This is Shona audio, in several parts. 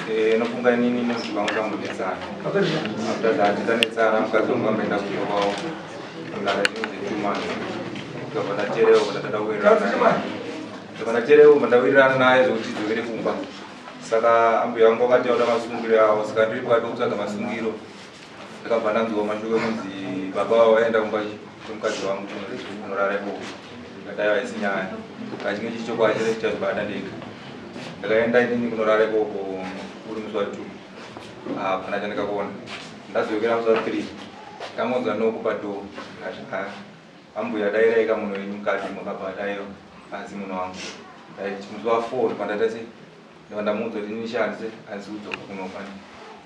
Eh, nofunga inini nekuti vanga tambonetsana after that tanetsana mukadzi wangu amboenda kuyovawo kugara zvinhu zvetumani ndikabva ndaterewo ndatanda kuwirirana ndikabva ndaterewo bva ndawirirana naye zvekuti dzokere kumba saka ambuya vangu vakati vauda masungiro avo saka ndiri pakati okutsvaga masungiro ndakabva ndanzwa mashoko ekunzi baba vavo vaenda kumba kwemukadzi wangu kunorara ikoko ndadai vaisi nyaya kachinge chii chokwadi chese chichazvibata ndega ndakaenda inini kunorara ikoko uri musi wa two hapana ah, chandikakuona ndazovekera musi wa three ndakangonzwa noku padoo ndikasvika ambuya dairaika munhu wenyu mukati makabva dairo asi munhu wangu musi wa four pandataise ndakandamuudza kuti inini shandise handisi kudzoka kunofana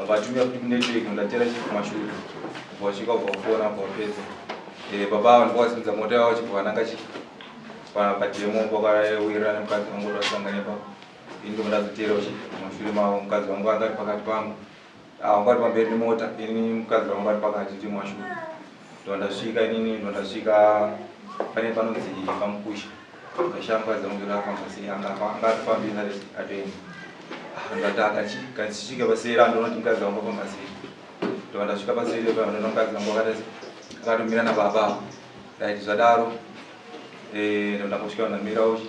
abatumira kuti kunetwork ndatera chipuma shuga vasvika kubva kufona apa vapedza eh, baba ava ndikwasimudza mota yavo chibva vananga chi pademo pakawirana mukadzi vangu vasanganepa indo ndazotera mushure mavo mukadzi vangu vangari pakati pangu ah, vangari pamberi nemota ini mukadzi vangu vari pakati timashure ndondasvika inini ndondasvika pane panonzi pamukusha ndashamba dzangu ndafamba sei anga atofambira atoenda ah, ndataka kansvika pasera ndonoti mukadzi wangu afamba sei ndondasvika pasere panona mukadzi wangu akatomira nababa right zvadaro eh, ndondakasvika ndamira uchi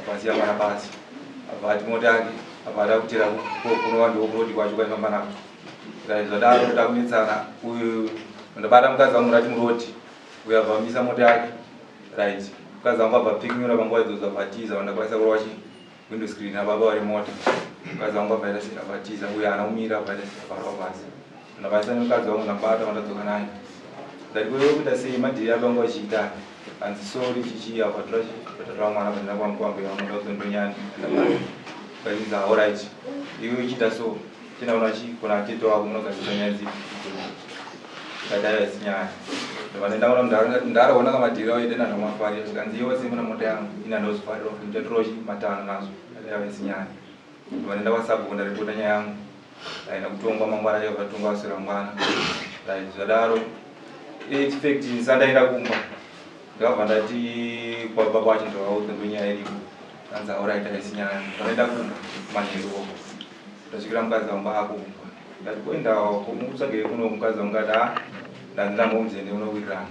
Abazi yamara bazi abati mota yake abada kutera kunova ndiwo kurodi kwacho kwaifamba nako zvadaro kuda kunetsana uyu ndabata mukadzi wangu rati murodi uyo abvamisa mota yake right mukadzi wangu abva pikinyura panguva idzodzo abatiza vandakwanisa kurova chi window screen ababa vari mota mukadzi wangu abvaita sei abatiza uyo haana kumira abvaita sei abarwa basi Ndabatsira mukadzi wangu ndambata vandadzoka naye. Ndati kwewe kuita sei madhiri akangu vachiita. Hanzi sorry chichi apa tora tora mwana pandina kwangu kwambe wangu ndaudzo ndonyana. Kainza all right. Iwe uchiita so. Tena unachi kuna tete wako munogadzira nyaya dzipi. Kadaya sinyaya. Ndovanenda wana ndanga ndara wana kama dhiri waende na ndamwa fari. Kanzi iwe simuna mota yangu. Ina ndozo fari rofu. Ndatochi matana nazo. Kadaya sinyaya. Vanenda kwaSabhuku ndaripota nyaya yangu aina kutongwa mangwana chaivo zvatongwa vaswera mangwana right zvadaro expect sandaenda kumba ndakabva ndati kwabva kwacho ndavaudza ndonyaya iripo anzi aurit aisi nyaya vanoenda kumba manheru oko ndasvikira mukadzi wangu ako kumba ndati koendawo mukutsvagei kuno mukadzi wangu ati ha ndanzi ndambomuziende unowirirana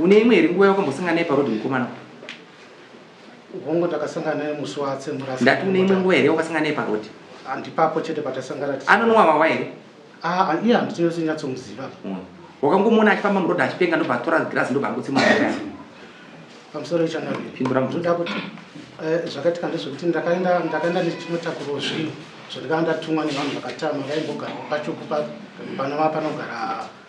Une imwe here nguva yakambosangana naye paroad mukomana? Hongu takasangana naye musi waatsemura. Ndati une imwe nguva here wakasangana naye paroad? Andipapo chete patasangana. Anonwa wawa here? Ah, iye handiti yose nyatsomuziva. Mm. Wakangomuona achifamba muroad achipenga ndobva atora grass ndobva angotsemura. Pamusoro ichana. Pindura mubvunzo. Ndoda kuti eh, zvakaitika ndezvekuti ndakaenda ndakaenda nechinotakuro zvinhu zvandikanga ndatumwa nevanhu vakatama vaimbogara pachuku pana vapanogara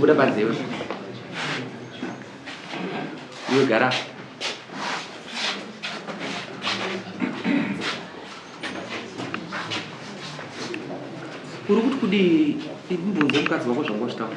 Buda panze iwe. Iwe gara. Uri kuti kudii? Imbunze mukadzi wako zvanga uchitaura.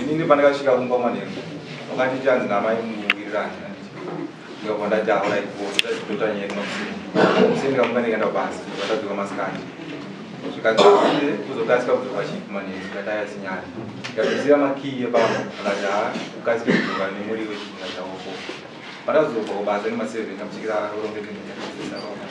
inini pandakasvika kumba manheru wakati chanzi namai muwirirani ndikabva ndataura ikoototanyekmamusendikamuka ndikaenda basa vatadzoka masikati zvikazii kuzokasika kudzoka chipi manheru ikataya sinyari ikazosira makii epamba akati haa ukasike kudzoka nemuri wechipinga chaoko pandazobva kubasa nemaseven amusikira rorongekendaaaa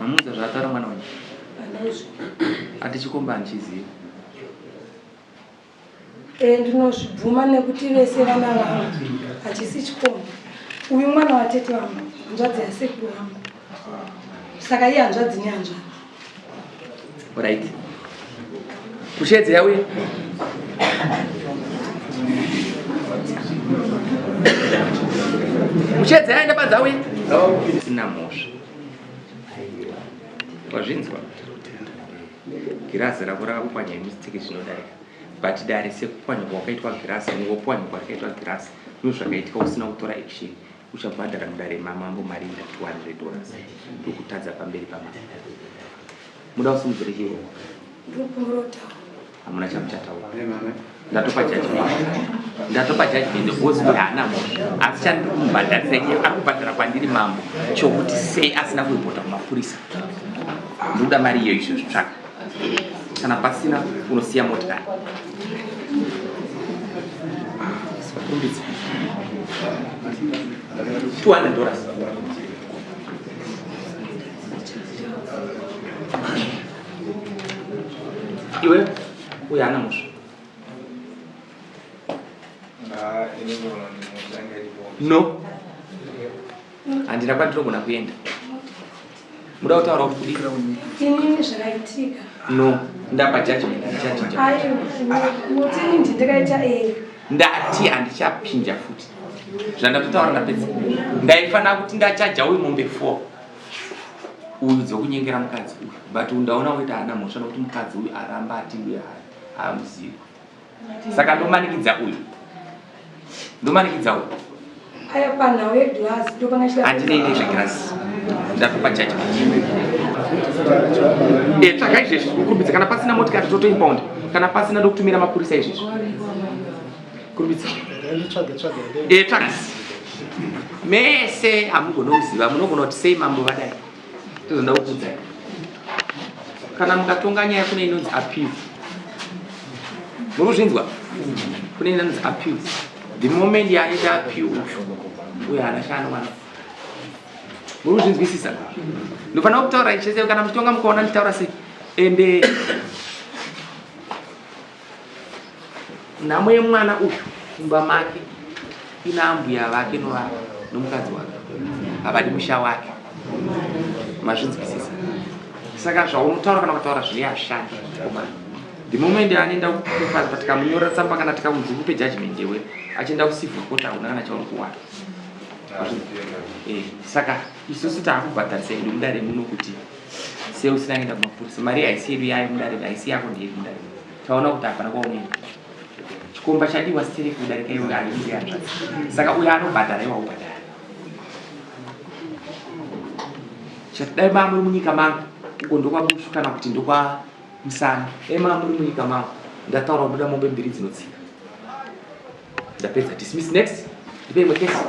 Mamuudza zvaataura mwana wenyu? Ati chikomba handichizivi. Eh, ndinozvibvuma nekuti vese vana vangu hachisi chikomba. Uyu mwana watete vangu, hanzvadzi yasekuru vangu. Saka iye hanzvadzi nehanzvadzi. Right. Kushedze yauye. Kushedze yaenda padza uye. Sina mhosva. wazvinzwa girazi rako rakakupwanya mistake zvinodarika but dare sekupwanyikwa wakaitwa girazi ngopwanyikwa rakaitwa girazi no zvakaitika usina kutora action uchabhadhara mudare mamambo mari ina 200 dollars ndokutadza pamberi pamambo muda usimudzire chirongwa hamuna chamuchataura ndatopa jaji ndatopa jaji mende ozi kuti haana mhosva asi chandiri kumubhadharisa iye ari kubhadhara kwandiri mambo chokuti sei asina kuripota kumapurisa ndikuda mari iyo izvo zvitsvaka kana pasina unosiya motikari kumbidza 200 dollars iwe uye ana musha ah, no handina kwandirogona kuenda muda kutaura kuti kudii inini zvakaitika no ndapa judgment ndichachindakaita ega ndati handichapinja futi zvandatotaura ndapedza ndaifanira kuti ndachaja uyu mombe four uyu dzekunyengera mukadzi uyu but ndaona woita hana mhosva nokuti mukadzi uyu aramba atiuye hai haamuzivi saka ndomanikidza uyu ndomanikidza uyu aya panhau yegirasi ndopangandinei nezvegirasi ndatopa judgment eh, tsvaga izvezvi ukurumbidza kana pasina motikari totoimpound kana pasina ndokutumira mapurisa izvezvi mese hamugona kuziva munogona kuti sei mambo vadai tozoda kukudzai kana mukatonga nyaya kune inonzi appeal muri kuzvinzwa kune inonzi appeal the moment yaita appeal uyu uyo haana chaanowana muri kuzvinzwisisa ndofanira kutaura ichese kana muchitonga mukaona nditaura sei ende nhamo yemwana uyu mumba make ina ambuya vake novava nomukadzi wake havadi musha wake mazvinzwisisa saka zvaunotaura kana kutaura zvine ashandi komana the moment anoenda kufaza tikamunyora tsamba kana tikamunzi kupe judgment yewe achienda kusivha koti hauna kana chauri kuwana eh, saka isusu taakubhadharisa edu mudare muno kuti Sei usina kuenda kumapurisa? Mari haisi yedu yayo mudare haisi yako ndeyedu mudare. Taona kuti hapana kwaunoenda. Chikomba chadiwa sitiri kudarika iwe haisi hanzvadzi. Saka uyo anobhadhara iwe ubhadhara. Chatidai baba muri munyika mangu uko ndokwabusu kana kuti ndokwa musana. Dai mama muri munyika mangu ndataura kubuda mombe mbiri dzinotsika. Ndapedza dismiss next. Ndipe imwe case.